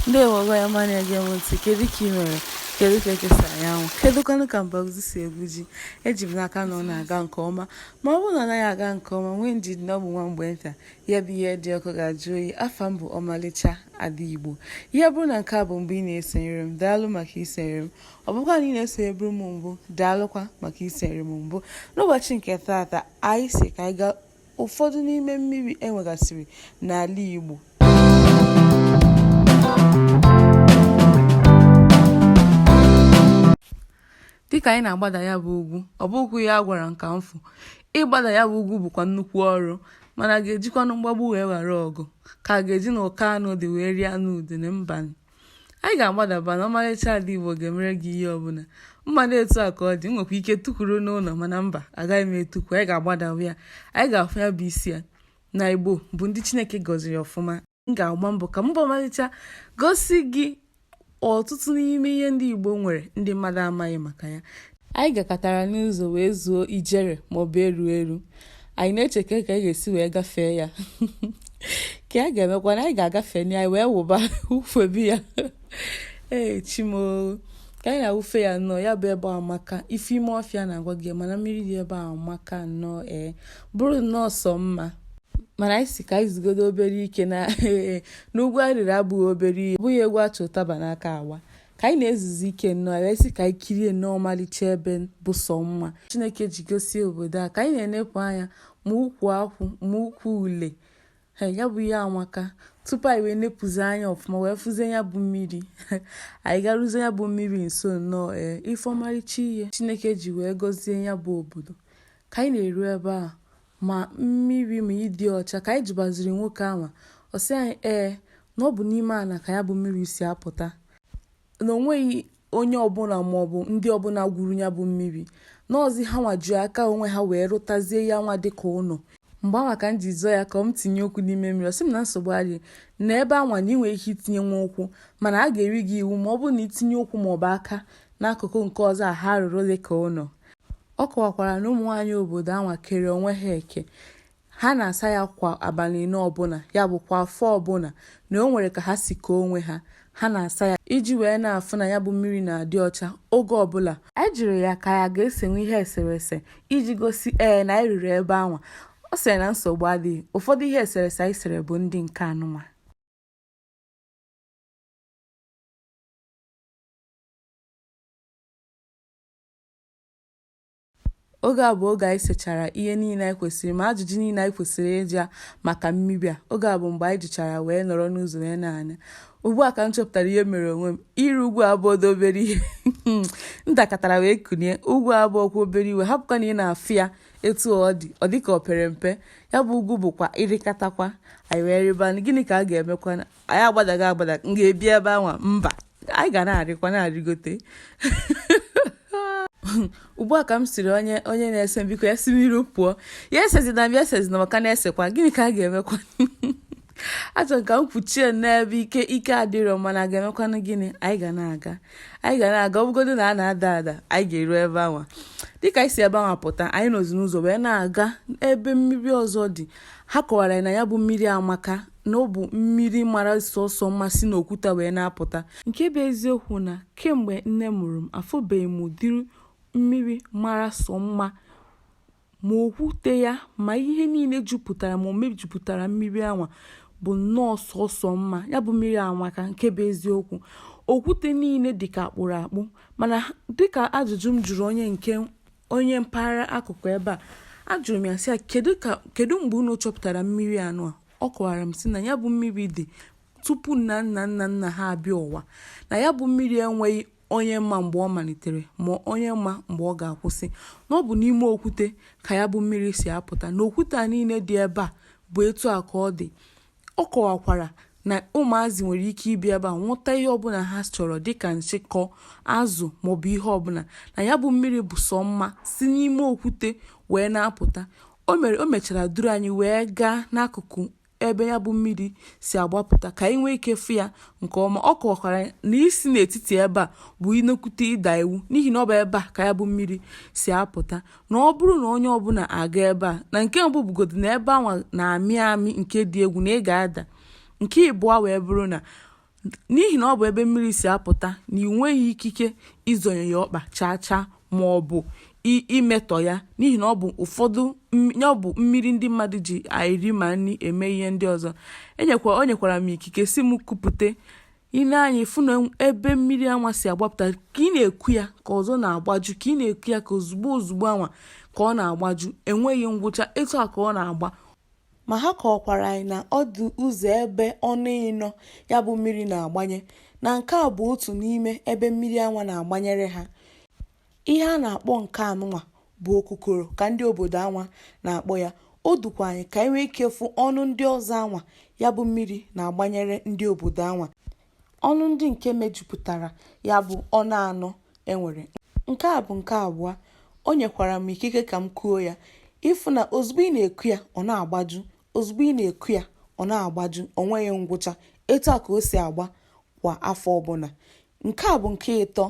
ndewo ọgọ ya ma na-ege m ntị kedu ka ị mere kedu ka eke si anya anwụ kedu kwanụ ka mbazụ si egwu ji eji m n'aka na ọ na-aga nke ọma ma ọ bụrụ na ọ naghị aga nke ọma nwee ndidi na ọ bụ nwa mgbe nta ya bụ ihe dị ọkụ ga-ajụ oyi afa m bụ ọmalịcha ada igbo ihe bụrụ na nke a bụ mgbe ị na-esonyere m daalụ maka isonyere m ọ bụkwa na ị na-esonyeburu m mbụ daalụkwa maka isonyere m mbụ n'ụbọchị nke taata anyị sị ka anyị gaa Ụfọdụ n'ime mmiri e nwegasịrị n'ala Igbo. Dịka anyị na-agbada ya bụ ugwu, ọ bụghị ya gwara nka mfụ, ịgbada ya bụ ugwu bụkwa nnukwu ọrụ, mana a ga-ejikwanụ mgbagbu wee ghara ọgụ, ka a ga-eji na ụkọ anụ dị wee rie anụ udene? Mbanụ! anyị ga-agbadaba na ọmalịcha ada Igbo ga-emere gị ihe ọbụla mmadụ etu a ka ọ dị nwekwa ike tukwuru n'ụlọ mana mba agaghị m etukwu anyị ga-agbadawa ya anyị ga-afụ ya bụ isi ya na Igbo bụ ndị Chineke gọziri ọfụma m ga-agba mbọ ka m bụ ọmalịcha gosi gị ọtụtụ n'ime ihe ndị Igbo nwere ndị mmadụ amaghị maka ya Anyị gakatara n'ụzọ wee zuo ijere maọbụ eru eru. Anyị na-eche ka ka anyị ga-esi wee gafee ya. Ka a ga-emekwa na anyị ga-agafe na anyị wee wụba wụfebe ya. Ee chimoo. Ka anyị na-awụfe ya nnọọ ya bụ ebe amaka. Ife ime ọfịa na-agwa gị mana mmiri dị ebe a amaka nnọọ ee. Bụrụ nnọọ sọ mma. Mana anyị sị ka anyị zugodu obere ike na ugwu anyị rịrị abụghị obere ihe. Ọ bụghị egwu a chị ụtaba n'aka agba. ka anyị na-ezuzi ike nnọọ e wee sị ka anyị kirie nnọọ ọmalịcha ebe bụ sọ mma chineke ji gọzie obodo a ka anyị na-enepụ anya ma ukwu akwụ ma ukwu ule ya bụ ihe amaka tupu anyị wee nepụzi anya ọfụma wee fụzie ya bụ mmiri anyị garụzie ya bụ mmiri nso nnọọ ee ịfụ ọmarịcha ihe chineke ji wee gọzie ya bụ obodo ka anyị na-eru ebe a ma mmiri ma ịdị ọcha, ka anyị jụbaziri nwoke ahụ, ọ sị anyị ee, na ọ bụ n'ime ana ka ya bụ mmiri si apụta, na o nweghị onye ọbụla maọbụ ndị ọbụla gwuru ya bụ mmiri, na ọzi hanwa ji aka onwe ha wee rụtazie ya nwa dịka ụlọ. Mgbe anwa ka m jụzi ya ka m tinye ụkwụ n'ime mmiri, ọ sị m na nsogbu adịghị, na ebe anwa na ị nwere ike itinyenwu ụkwụ, mana a ga-eri gị iwu ma ọ bụrụ na i tinye ụkwụ maọbụ aka n'akụkụ nke ọzọ a ha rụrụ dịka ụlọ. Ọ kọwakwara na ụmụnwaanyị obodo anwa kere onwe ha eke ha na-asa ya kwa abalị ịnọ ọbụla, ya bụ kwa afọ ọbụla na o nwere ka ha si kee onwe ha, ha na-asa ya iji wee na-afụ na ya bụ mmiri na-adị ọcha oge ọbụla. Anyị jụrụ ya ka anyị a ga-esenwu ihe eserese iji gosi ee na anyị ruru ebe anwa, ọ sịrị na nsogbu adịghị, ụfọdụ ihe eserese anyị sere bụ ndị nke anụnwa. oge a bụ oge anyị sechara ihe niile anyị kwesịrị ma ajụjụ niile anyị kwesịrị ịjụ maka mmiri a oge a bụ mgbe anyị jụchara wee nọrọ n'ụzọ wee na-ana ugbu a ka m chọpụtara ihe mere onwe m ịrị ugwu abụrọ obere ihe m dakatara wee kunie ugwu abụrọkwa obere ihe hapụkwa na ị na-afụ ya etu ọ dị ọ dị ka o pere mpe ya bụ ugwu bụkwa ịrịkatakwa anyị wee rịba gịnị ka a ga-emekwa anyị agbadago agbada m ga-ebi ebe anwa mba anyị ga na-arịkwa na-arịgote ugbu a ka m sịrị onye onye na-ese m biko ya si n'iru pụọ ya esezina m ya esezina maka na-esekwa gịnị ka a ga-emekwa a chọrọ ka m kpuchie n'ebe ike ike adịrọ mana a ga-emekwanụ gịnị anyị ga na-aga anyị ga na-aga ọ bụgodu na a na-ada ada anyị ga-eru ebe anwa dịka anyị si ebe anwa pụta anyị nọzi n'ụzọ wee na-aga ebe mmiri ọzọ dị ha kọwara na ya bụ mmiri amaka na ọ bụ mmiri mara sọsọ mma si n'okwute wee na-apụta nke bụ eziokwu na kemgbe nne mụrụ m afụbeghị m ụdịrị mmiri mara sọ mma ma okwute ya ma ihe niile jupụtara ma o mejupụtara mmiri anwa bụ nnọọ sọsọ mma ya bụ mmiri amaka nke bụ eziokwu okwute niile dịka a kpụrụ akpụ mana dịka ajụjụ m jụrụ onye nke onye mpaghara akụkụ ebe a ajụrụ m ya sị ya kedu ka kedu mgbe unu chọpụtara mmiri anwa ọ kọwara m sị na ya bụ mmiri dị tupu nna nna nna nna ha abịa ụwa na ya bụ mmiri enweghị onye ma mgbe ọ malitere ma onye ma mgbe ọ ga-akwụsị na ọ bụ n'ime okwute ka ya bụ mmiri si apụta na okwute a niile dị ebe a bụ etu a ka ọ dị Ọ kọwakwara na ụmụazị nwere ike ịbịa ebe a nwụta ihe ọbụla ha chọrọ dịka nshịkọ, azụ maọbụ ihe ọbụla, na ya bụ mmiri bụ sọ mma si n'ime okwute wee na-apụta. O mere o mechara duru anyị wee gaa n'akụkụ ebe ya bụ mmiri si agbapụta ka anyị nwee ike fụ ya nke ọma. Ọ kọwakwara na isi n'etiti ebe a bụ ị na-ekute ịda iwu n'ihi na ọ bụ ebe a ka ya bụ mmiri si apụta. na ọ bụrụ na onye ọbụla aga ebe a na nke mbụ bụgodu na ebe anwa na-amị amị nke dị egwu na ị ga-ada nke ịbụọ wee bụrụ na n'ihi na ọ bụ ebe mmiri si apụta na ị nweghị ikike izonye ya ọkpa chaa chaa ma ọ bụ imetọ ya n'ihi na ọ bụ ụfọdụ ya ọ bụ mmiri ndị mmadụ ji eri ma nri eme ihe ndị ọzọ enyekwa o nyekwara m ikike sị m kupute i nee anya ị fụ na ebe mmiri anwa si agbapụta ka ị na-eku ya ka ọzọ na-agbaju ka ị na-eku ya ka ozugbo ozugbo anwa ka ọ na-agbaju enweghị ngwụcha etu a ka ọ na-agba ma ha kọwakwara anyị na ọ dị ụzọ ebe ọnụ ịnọ ya bụ mmiri na-agbanye na nke a bụ otu n'ime ebe mmiri anwa na-agbanyere ha Ihe a na-akpọ nke anụnwa bụ okukoro ka ndị obodo anwa na-akpọ ya. O dukwa anyị ka anyị nwee ike fụ ọnụ ndị ọzọ anwa ya bụ mmiri na-agbanyere ndị obodo anwa. Ọnụ ndị nke mejupụtara ya bụ ọnụ anọ e nwere. Nke a bụ nke abụọ. O nyekwara m ikike ka m kuo ya. Ị fụ na ozugbo ị na-eku ya, ọ na-agbaju. Ozugbo ị na-eku ya, ọ na-agbaju. O nweghị ngwụcha. Etu a ka o si agba kwa afọ ọbụla. Nke a bụ nke ịtọ.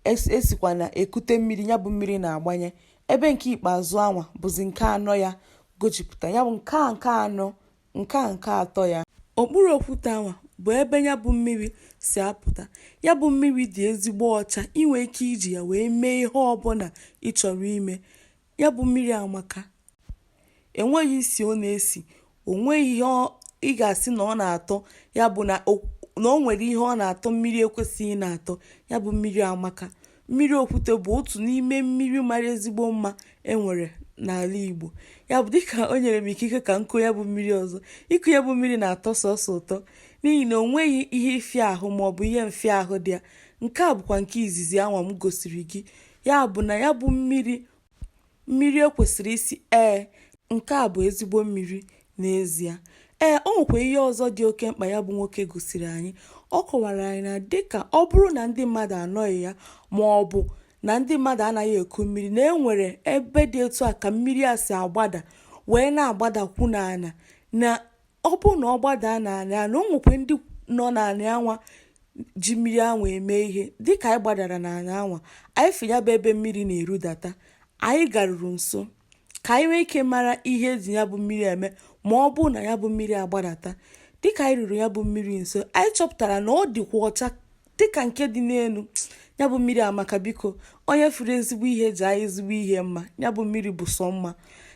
e sikwa na ekute mmiri ya bụ mmiri na-agbanye ebe nke ikpeazụ anwa bụzi nke anọ ya gojipụta ya bụ nke a nke anọ nke a nke atọ ya okpuru okwute anwa bụ ebe ya bụ mmiri si apụta ya bụ mmiri dị ezigbo ọcha i nwe ike iji ya wee mee ihe ọbụla ị chọrọ ime Ya bụ mmiri amaka. E nweghị isi ọ na-esi. O nweghị ihe ọ- ị ga-asị na ọ na-atọ. Ya bụ na o na o nwere ihe ọ na-atọ mmiri ekwesịghị na-atọ. Ya bụ mmiri amaka. Mmiri okwute bụ otu n'ime mmiri mara ezigbo mma e nwere n'ala Igbo. Ya bụ dịka o nyere m ikike ka m kuo ya bụ mmiri ọzọ. Iku ya bụ mmiri na-atọ sọọsọ ụtọ n'ihi na o nweghị ihe ịfịa ahụ maọbụ ihe mfịa ahụ dị ya. Nke a bụkwa nke izizi anwa m gosiri gị. ya bụ na ya bụ mmiri mmiri ekwesịrị isi ee nke a bụ ezigbo mmiri n'ezie ee o nwekwa ihe ọzọ dị oke mkpa ya bụ nwoke gosiri anyị ọ kọwara anyị na dịka ọ bụrụ na ndị mmadụ anọghị ya ma ọ bụ na ndị mmadụ anaghị eku mmiri na e nwere ebe dị etu a ka mmiri a si agbada wee na-agbadakwu n'ala na ọ bụ na ọ gbadaa n'ala na o nwekwe ndị nọ n'ala anwa ji mmiri anwa eme ihe dịka anyị gbadara n'ala anwa anyị fụ ya bụ ebe mmiri na-erudata anyị garuru nso ka anyị nwee ike mara ihe e ji ya bụ mmiri eme ma ọ bụ na ya bụ mmiri agbadata dịka anyị ruru ya bụ mmiri nso anyị chọpụtara na ọ dịkwa ọcha dịka nke dị n'elu ya bụ mmiri amaka biko onye fụrụ ezigbo ihe jaanụ ezigbo ihe mma ya bụ mmiri bụ sọ mma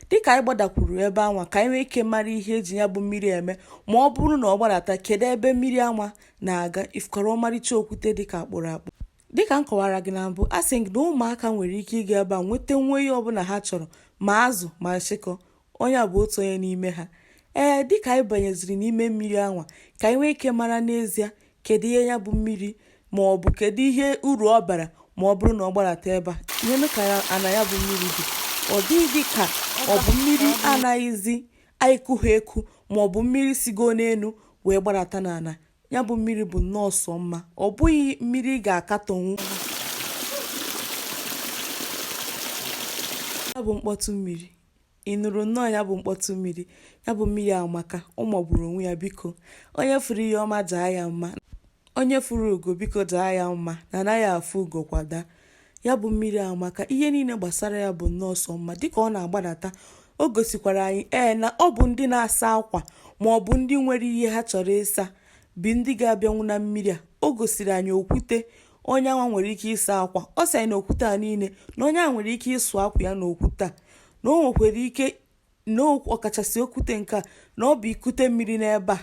dịka anyị gbadakwuru ebe anwa ka anyị nwee ike mara ihe e ji ya bụ mmiri eme ma ọ bụrụ na ọ gbadata kedu ebe mmiri anwa na-aga ị fụkwara ọmarịcha okwute dịka a kpụrụ akpụ dịka m kọwara gị na mbụ a sị gị na ụmụaka nwere ike ịga ebe a nweta nwa ihe ọbụla ha chọrọ ma azụ ma nshịkọ Onye a bụ otu onye n'ime ha. Ee, dị ka anyị banyeziri n'ime mmiri anwa, ka anyị nwee ike mara n'ezie kedu ihe ya bụ mmiri ma ọ bụ kedu ihe uru ọ bara ma ọ bụrụ na ọ gbarata ebe a. Neenụ ka ya ana ya bụ mmiri dị. Ọ dịghị dị ka ọ bụ mmiri anaghịzi anyị kughị eku ma ọ bụ mmiri sigo n'elu wee gbarata n'ala. Ya bụ mmiri bụ nnọọ sọ mma. Ọ bụghị mmiri ị ga-akatọnwu. Ya bụ mkpọtụ mmiri. Ị nụrụ nnọọ ya bụ mkpọtụ mmiri, ya bụ mmiri amaka, ọ magburu onwe ya biko. Onye fụrụ ihe ọma jaa ya mma, onye fụrụ ugo biko jaa ya mma na anaghị afụ ugo kwa daa. Ya bụ mmiri amaka, ihe niile gbasara ya bụ nnọọ sọ mma dịka ọ na-agbadata o gosikwara anyị ee na ọ bụ ndị na-asa akwa ma ọ bụ ndị nwere ihe ha chọrọ ịsa bụ ndị ga-abịanwu na mmiri a. O gosiri anyị okwute, onye anwa nwere ike ịsa akwa ọ sị anyị na okwute a niile na onye a nwere ike ịsụ akwa ya na okwute a na o nwekwara ike na ọkachasị okwute nke a na ọ bụ i kute mmiri n'ebe a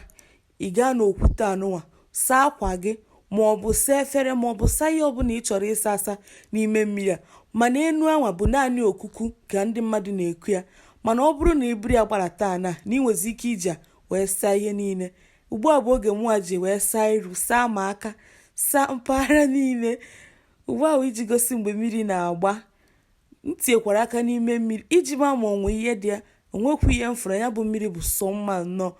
ị gaa na okwute anụnwa saa akwa gị ma ọ bụ saa efere ma ọ bụ saa ihe ọbụla ị chọrọ ịsa asa n'ime mmiri a mana enu anwa bụ naanị okuku ka ndị mmadụ na-eku ya mana ọ bụrụ na i buru ya gbadata na na ị nwezi ike iji ya wee saa ihe niile ugbu a bụ oge mụnwa ji wee saa iru saa ma aka saa mpaghara niile ugbu a iji gosi mgbe mmiri na-agba m tinyekwara aka n'ime mmiri iji maa ma o nwe ihe dị ya o nwekwu ihe m fụrụ ya bụ mmiri bụ sọ mma nnọọ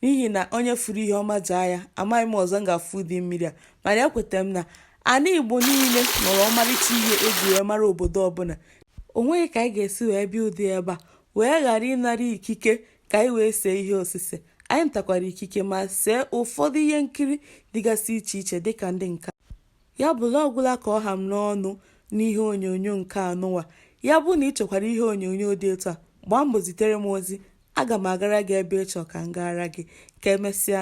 n'ihi na onye fụrụ ihe ọma jaa ya amaghị m ọzọ m ga-afụ ụdị mmiri a mana ekwetara m na ana igbo niile nwere ọmarịcha ihe e ji wee mara obodo ọbụla o nweghị ka anyị ga-esi wee bịa ụdị ebe a wee ghara ịnara ikike ka anyị wee see ihe osise anyị natakwara ikike ma see ụfọdụ ihe nkiri dịgasị iche iche dịka ndị nka ya bụ na ọ gwụla ka ọ ha m n'ọnụ n'ihe onyonyo nke anụwa ya bụ na ị chọkwara ihe onyonyo dị etu a gbaa mbọ zitere m ozi aga m agara gị ebe ị chọọ ka m gaara gị ka e mesịa